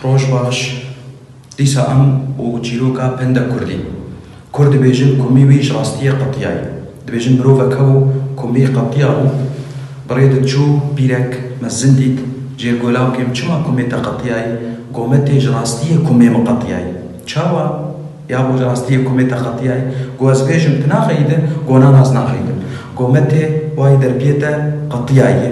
Roj baş, dîsa em û çîroka penda kurdî. Kurd dibêjin komî wî ji rastiyê qetiya ye. Dibêjin mirovek hebû komî qetiya bû. Bi rê de çû pîrek mezin dît, Cêrgola kêm çima komê te qetiya ye? Got me tê ji rastiyê komê min qetiya ye. Çawa? Ya bo ji rastiyê komê te qetiya ye? Got ez bêjim tu naxeyî de? Got na ez naxeyî de. Got me tê wayî derpiyê te qetiya ye.